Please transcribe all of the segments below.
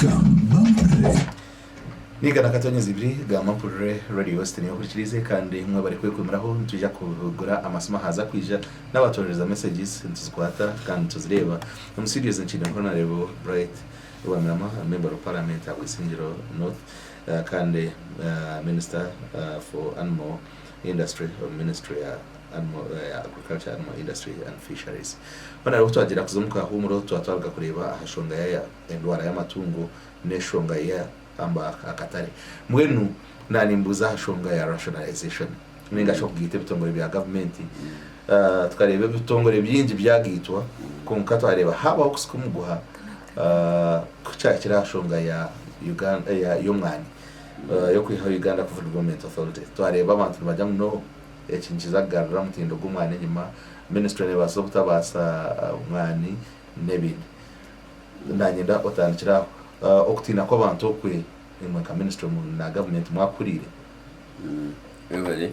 Gamba Mpurire. Ni igana akatonyeza ibiri, Gamba Mpurire, Radio West niyo ohurikiriize kandi mwebare kwekwimuraho. Nitwija kugura amasimu ahaaza kwija nabatwohereza messages nituzikwata kandi nituzireeba. Omu studio ezi nkiine Honourable Bright Rwamirama, Member of Parliament aha Bwesingye North kandi Minister for Animal. industry omu ministry ya agriculture animal industry and fisheries hoona rero kutwagyenda kuza omu kahuumuro twatwaruga kureeba aha shonga ya endwara y'amatungo n'eshonga ya amba akatare mbwenu naninbuuza aha shonga ya rationalization ninga shi okugaita ebitongore bya gavumenti tukareeba ebitongore byingi byagaitwa kwonka twareeba haabaho kutsika omuguha kukyahikire aha shonga ya Uganda y'omwani y'okwihaho Uganda Covid Development Authority twareeba abantu nibagya munonga eki nikiza kugarura omutindo gw'omwani enyima, ministry nebaasa obutabaasa omwani n'ebindi. Nanyenda otandikire aho okutiina kw'abantu okwe imwe nka ministry na gavumenti mwakuhuriire? Webare.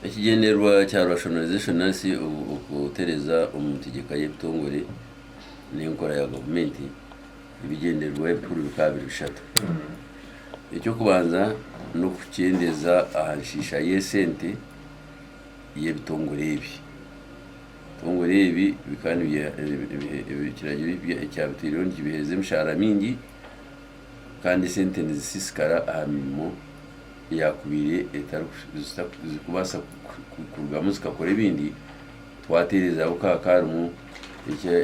Ekigyendererwa kya rationalisation nari okutereza omu ntegyeka y'ebitongore n'enkora ya gavumenti, Ebigyendererwa ebikuru bikaba biri bishatu. Eky'okubanza n'okukyendeeza aha nshiisha y'esente y'ebitongore ebi. Ebitongore ebi bikaba ekiragiro ekyabitaireho nikibiheereza emishaara mingi kandi esente nizisiisikara aha mirimo eyakubaire zirikubaasa kurugamu zikakora ebindi twateerezaho ka harimu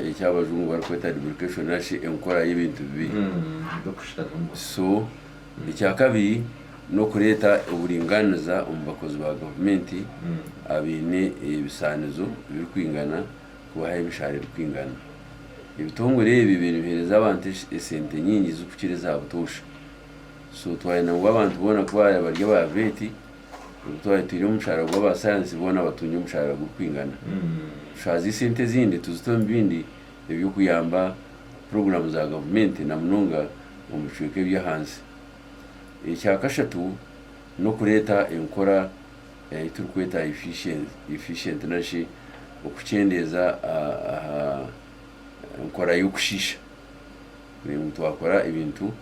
eki abajungu barikweta lubrication nari shi enkora y'ebintu bibi. So ekyakabiri n'okureeta oburingaaniza omu bakozi ba gavumenti abaine ebisaanizo birikwingana kubaha emishahara erikwingana. Ebitongore ebi bibaire nibiheereza abantu esente nyingi zikukira eza butoosha. So twayenda ngu abantu boona ku baaba bari aba veti. Obu twateire omushaara gw'abasayansi boona batunga omushaara gurikwingana, tushaaze esente ezindi tuzite omu bindi eby'okuyamba puroguramu za gavumenti na munonga omu bicweka eby'ahansi. Ekya kashatu n'okureeta enkora ei turikweta efficiency nari shi okukyendeeza aha nkora y'okushiisha. Reero twakora ebintu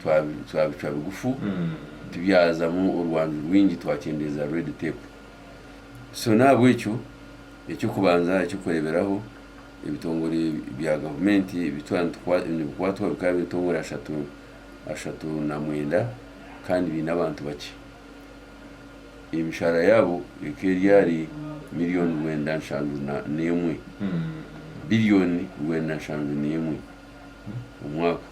twabicwa bigufu, tibyazamu orwanju rwingi, twakyendeeza red tape. So n'ahabw'ekyo eky'okubanza eky'okureeberaho ebitongore bya gavumenti ebi twaba nibikwatwa bikaba biri ebitongore ashatu ashatu na mwenda kandi biine abantu bakye. emishara yabo ekaba eri ahari million rwenda nshanju n'emwe billion rwenda nshanju n'emwe omwaka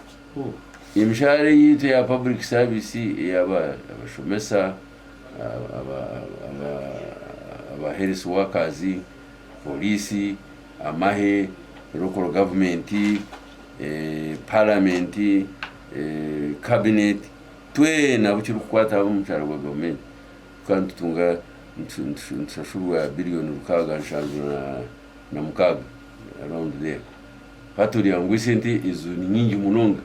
emishara eyeitu eya public service eya abashomesa aba health workers police amahe local government parliament cabinet. twena abu kirikukwataho omu mukyaro gwa gavumenti tukaba nitutunga nitushashurwa biriyoni rukaaga nshanju na mukaaga around there hati oreba ngu esente ezo ni nyingi munonga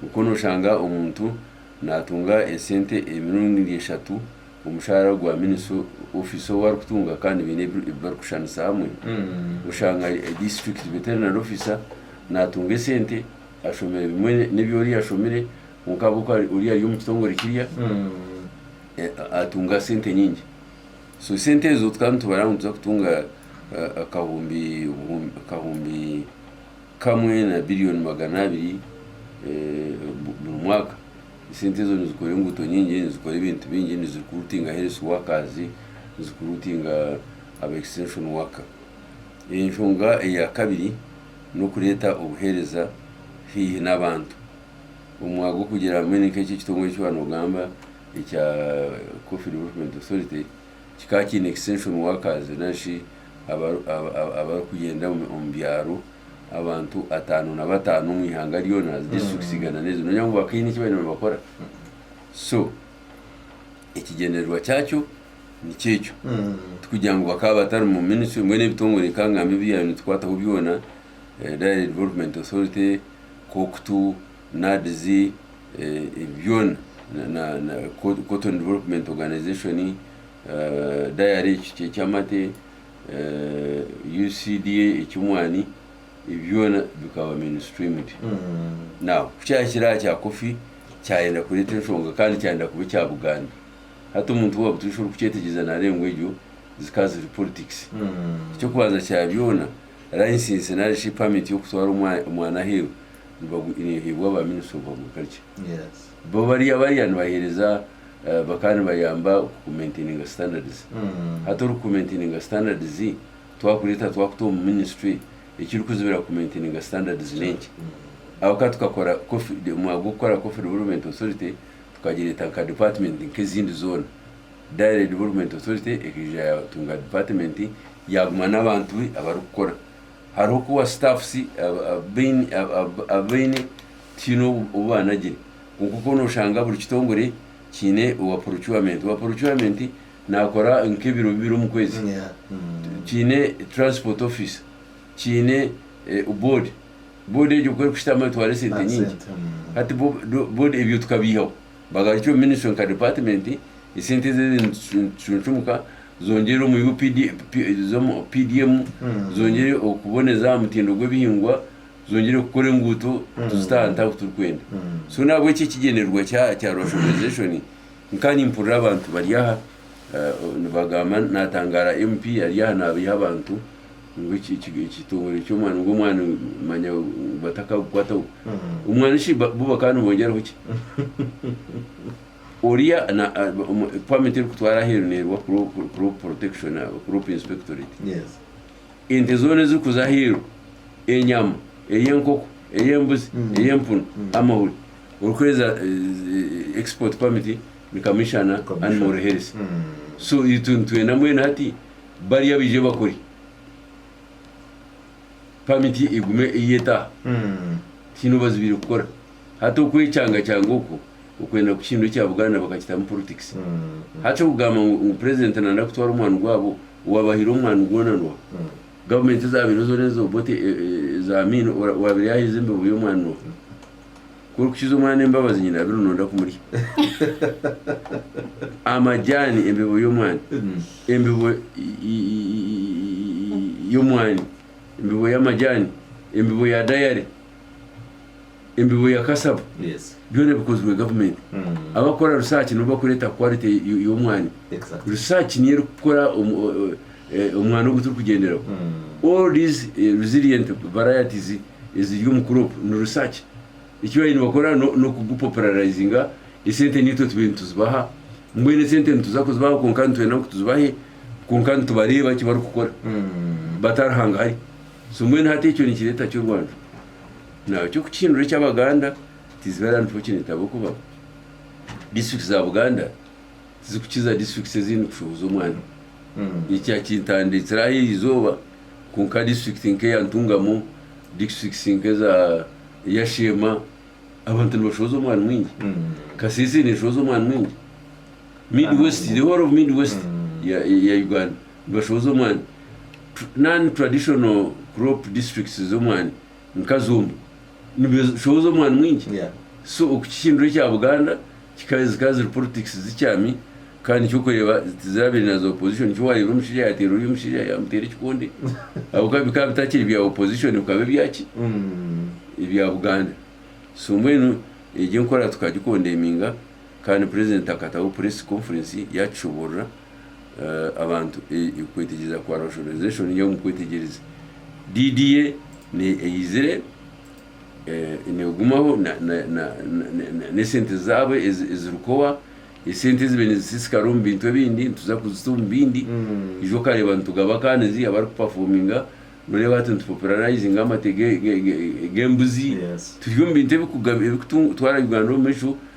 nikwo noshanga omuntu natunga esente emirundi eshatu omushaara gwa minisitule ofiisi owu arikutunga kandi baine ebi barikushanisa hamwe oshanga disiturikiti veterinery officer natunga esente. Ashomire bimwe n'ebi oriya ashomire kwonka ahabw'okuba oriya ari omu kitongore kirya, atunga sente nyingi. So sente ezo tukaba nitubara ngu nituza kutunga akahumbi akahumbi kamwe na biriyoni magana abiri buri mwaka. Sente ezo nizikora enguuto nyingi, nizikora ebintu bingi, nizirikuruutinga health workers, nizikuruutinga aba extension worker. Enshonga eya kabiri n'okureeta obuheereza haihi n'abantu. Omwaka gw'okugira hamwe ni nk'eki ekitongore eki waanoogamba ekya Coffee Development Authority kikaba kiine extension workers nari shi abarikugyenda omu byaro abantu ataano na bataano omu ihanga ryona zi districts igana n'ezo noogira ngu bakaine eki bariyo nibakora. So ekigyendererwa kyakyo nikyo ekyo tikugira ngu bakaba batari mu ministry mbwenu ebitongore nka ngamba ebi byabaire nitukwataho byona eh, Railway Development Authority, Koktu, NAADS, eh, ebi byona na, na, na Co- Cotton Development Organization, eh, Diary eki- eky'amate, eh, UCDA eky'omwani, ebi byona bikaba mainstreamed. Now, ku kyahikire aha kya Kofi, kyayenda kureeta enshonga kandi kyayenda kuba ekya Buganda. Hati omuntu wa butosha orikukyetegyereza nareeba ngu egyo zika ziri politics. Ekyokubanza kya byona license nari shi permit yokutwara omwana aheru neheebwa aba ministry of agriculture. Bo bariya bariya nibahereza bakaba nibayamba ku maintaininga standards. Hati ori ku maintaininga standards twakureeta twakuta omu ministry ekirikuzibira ku maintaininga standards nenki? Aho ka tukakora coffee, omwaka gwokukora coffee development authority Tukagireeta nka department nk'ezindi zoona. Daily Development Authority ekaija yatunga department yaguma n'abantu be abarikukora. Hariho ku our staffs abaine tihaine obu baanagire. Kwonka okwo nooshanga buri kitongore kiine owa procurement. Owa procurement naakora nk'ebiro bibiri omu kwezi. Kiine transport officer, kiine board. boda egyo ku erikushutama etwara esente nyingi hati boda ebyo tukabyihaho bagarukye omu ministry nka department esente ezi ezi nitucuncumuka zongyere omu UPD zomu PDM zongyere okuboneza aha mutindo gw'ebihingwa zongyere kukora enguuto tuzite ahantu ahu turikwenda so nahabwekyo ekigyendererwa kya kya rationalization nka nimpurira abantu bari aha nibagamba natangara MP ari aha nabiiha abantu ngu ekitongore ky'omwani ngu omwani manya batakagukwataho omwani shi bo bakaba nibongyeraho ki oriya pamiti erikutwara aheeru neerwa crop protection crop inspectorate ente zoona ezirikuza aheeru enyama ey'enkoko ey'embuzi ey'empunu amahuri orikuheereza export pamiti ni kamishana animal health so itwe nitwenda mbwenu hati bariya baije bakore permit egume eri etaha tihaine obu bazibeire kukora hati okwekyangachanga okwo okwenda kukihinduura ekya Buganda bakakitamu politics hati okugamba ngu president nayenda kutwara omwani gwabo owabahaire omwani gwona noha government ezabaire zona ezo Obote ezo Amin owabaire yahayo embibo yomwani noha? Ku orikukiza omwana embabazi nyina abirunonda kumurya. Amajaani, embibo y'omwani, embibo y'omwani, embibo y'amajaani, embibo ya dayari, embibo ya kasava byona bikozirwe gavumenti. Abakukora risaaki nibo bakureeta kwarite y'omwani. Risaaki niyo erikukora omwani ogu turikugyenderaho. All these resilient varieties. eziri omu crop ni research eki babaire nibakora nokugu popularizinga esente nitwe tubaire nituzibaha mbwenu esente nituza kuzibaha kwonka nitwenda ngu tuzibahe kwonka nitubareeba eki barikukora mm. batari hangahari so mbwenu hati ekyo nikireta ki orwanju na kyokukihindura eki abaganda tizibera nituho kineta ahabwokuba district za buganda tizikukiza district ezindi kushohoza omwani mm. ekyo kyakintanditsire aho erizooba kwonka disiturikiti nk'eya Ntungamo, disiturikiti nk'eza eya Sheema abantu nibashohoza omwani mwingi. Kasese neshohoza omwani mwingi. Mid West, the whole of Mid West ya, ya Uganda nibashohoza omwani. Tr- Non-traditional crop districts z'omwani nka Zombo nibeshohoza omwani mwingi so okukihindura ekya Buganda kikaba zikaba ziri politics zikyami kandi kyokureeba tizabire naza opposition kyowareeba omushaija yateera oriya omushaija yamuteera ekikonde ahabwokuba bikaba bitakiri bya opposition bikaba ebyaki ebya Buganda so mbwenu egyo enkora tukagikondeminga kandi president akataho press conference yakishoborora. abantu kwetegyereza kwa rationalization ninga ngu kwetegyereza DDA eyizire negumaho nesente zaabo ezirikuwa esente ezibaire nizisisikara omu bintu ebindi nituza kuzita omu bindi ija okareeba nitugaba kanizi abari ku performinga noreeba hati nitu popularizinga amate g'embuzi turi omu bintu ebikutwara Uganda omu maisho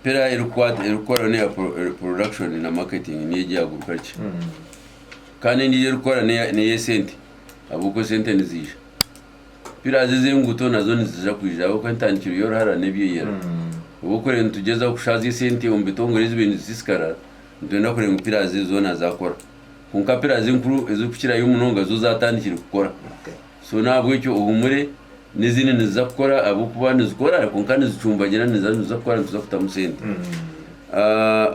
Empera erikwata erikukora n'eya pro- eh, production na marketing niyo egi agriculture kandi endiijo erikukora n'eya- n'ey'esente ahabw'oku esente niziija pirazi ez'enguuto nazo niziija kwija ahabw'okuba entandikiro y'oruhara n'ebyeyera obu orikureeba nitugyezaho kushaazya esente omu bitongore ezibaire nizisisikara nitwenda kureeba ngu pirazi ezo zoona zaakora kwonka pirazi enkuru ezirikukirayo munonga zo zaatandikire kukora So n'ahabw'ekyo ohumure, n'ezindi niziza kukora ahabw'okuba nizikora kwonka nizicumbagira niziza niziza kukora nituza kutamu sente.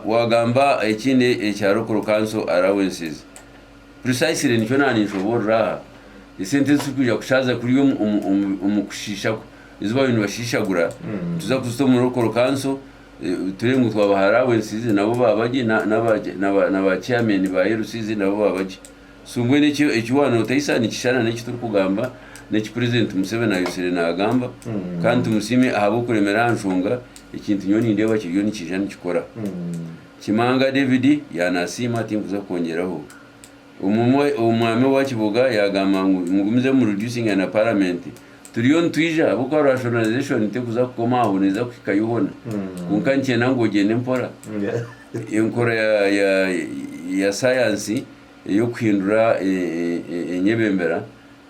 Waagamba ekindi ekya Local Council Allowances. Precisely nikyo naaninshoboorora aha. Esente ezi turikwija kucaaja kuri omu kushiisha ezi bariyo nibashiishagura, nituza kuzita omu Local Council turebe ngu twabaha allowances nabo baaba gye na ba Chairman ba LCs nabo baaba gye. Si mbwenu eki eki waanotaisa nikishushana n'eki turikugamba n'eki Purezidenti Museveni ayotsire naagamba, kandi tumusiime ahabw'okuremera aha nshonga, ekintu nyowe nindeeba kiriyo nikiija nikikora. Kimanga David yaanaasiima tinkuza kukongyeraho. Omumwe Omwami owa Kiboga yaagamba ngu mugumize mu reducing na Paramenti. Turiyo nitwija ahabw'okuba rationalization tekuza kukoma aho neeza kuhikayo hoona. Kwonka nikyenda ngu ogyende mpora. Enkora ya ya ya saayansi ey'okuhindura enyebembera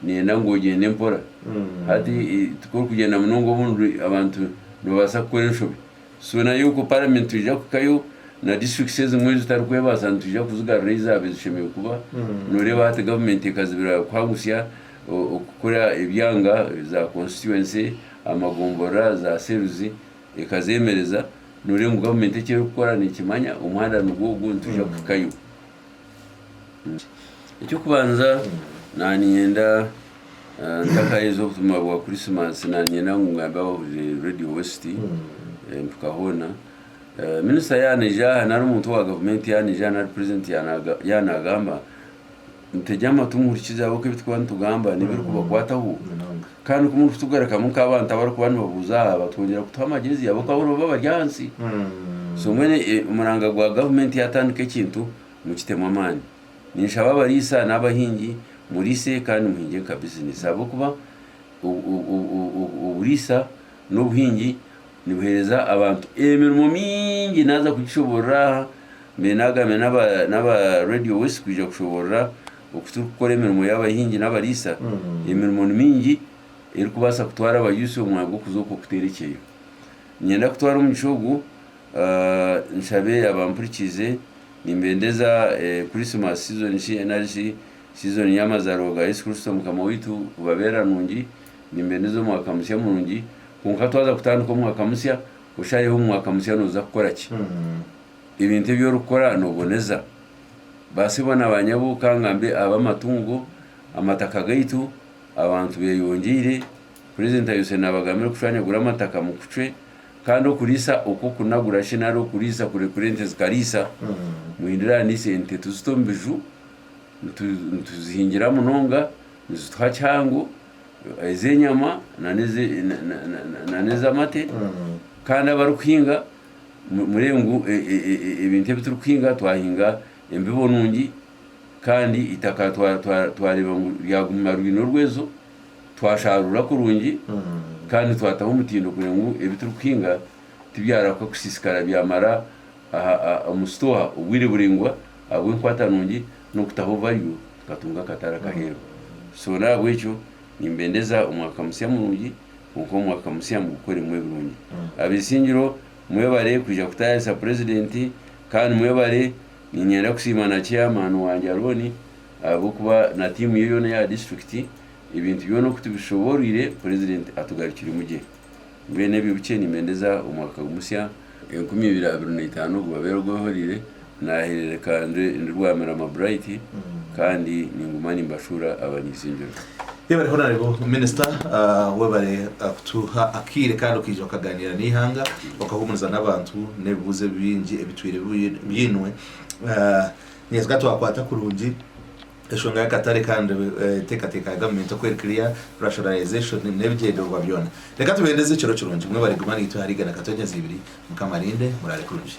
neeyenda ngu ogyende mpora. Hati ku orikugyenda munonga obundu abantu nibabaasa kukora enshobe. So nari okwo paramenti twija kuhikayo na disiturikiti ezimwe ezitarikwebaasa nitwija kuzigarura ei zaaba ezishemereire kuba. Nooreeba hati gavumenti ekazibira kuhangutsya kukora ebyanga, za konsituwensi, amagomborora, za seeruzi ekazeemereza. Nooreeba ngu gavumenti eki erikukora neekimanya, omuhanda nigwo ogu nitwija kuhikayo. Eky'okubanza nanyenda ntakaheeza obutumwa bwa Christmas nanyenda ngu ngambe abahuriire Radio West mpika hoona. Minister yanyija nari omuntu owa government yanyija nari president yanagamba ntegya amatu muhurikize ahabw'okuba ebi turikuba nitugamba nibirikubakwataho. Kandi kumwe kutugarukamu nk'abantu abarikuba nibabuuza aha batwongyera kutuha amagyezi yaabo ku abaribo bari ahansi. So mbwenu omuranga gwa gavumenti yaatandika ekintu mukitemu amaani. Ninshaba abariisa n'abahingi muriise kandi muhingye nka bizinesi ahabw'okuba oburiisa, n'obuhingi nibuheereza abantu emirimo mingi naaza kugishoboorora aha mbaire naagambira n'aba Radio West kwija kushoboorora oku turikukora emirimo y'abahingi n'abariisa emirimo ni mingi erikubaasa kutwara aba youths omu mwanya gw'okuza okwo kuteera ekyeyo niinyenda kutwara omugisha ogu nshabe abampurikiize nimbendeza Christmas season narishi season y'amazaarwa ga Yesu Kristo Mukama waitu kubabeera nungi. Nimbenuza omwaka musya murungi. Kwonka twaza kutandika omwaka musya, oshayeho omu mwaka musya noza kukora ki? Ebintu ebi orikukora noboneza ba sebo na ba nyabo ka ngambe aba amatungo, amataka gaitu, abantu beyongyeire, Purezidenti ayotsire nabagambira kushwanyagura amataka mukucwe kandi okuriisa okwo kunagura shi nari okuriisa kurekura ente zikariisa, muhindure aha ndiisa ente tuzite omu biju, nituzihingira munonga, nizituha kihango. ez'enyama nana ez'amate kandi abarikuhinga murebe ngu ebintu ebi turikuhinga twahinga embibo nungi kandi eitaka twareeba ngu ryaguma ryine orwezo twasharuura kurungi kandi twataho omutindo kureeba ngu ebi turikuhinga tibyarahuka kusiisikara byamara omu sitooha obwire buraingwa. ahabw'enkwata nungi n'okutaho ovayo tukatunga akatare akaheerwa so n'ahabw'ekyo nimbendeza omwaka musya murungi kwonka omwaka musya mugukoremu ebirungi ab'eisingiro mwebare kwija kutaayayisa purezidenti kandi mwebare niinyenda kusiima na chairman wangye Arooni ahabw'okuba na tiimu ye yoona eya disiturikiti ebintu byoona okutubishoboorwire purezidenti atugarukiremu gye. Mbwenu ebyo bukye nimbendeza omwaka musya. Enkumi ibiri abiri na itaano ogu babeire ogwehorire, naaherereka ndi Rwamirama Bright kandi ninguma nimbashuura abanyeisingiro. Yebare Honarebo Minisita, webare kutuha akaire kandi okaija okaganiira n'eihanga, okahuumuriza n'abantu n'ebibuuzo ebi bingi ebitwire biinwe. Ninyegyesibwa twakwata kurungi. Enshonga y'akatare kandi enteekateeka ya gavumenti okweri clear, rationalisation, n'ebigyendererwa byona. Reka tubendeze ekiro kirungi. Mwebare kuguma naitwe ahari Igana Katonyeza Ibiri. Mukama arinde. Muraare kurungi.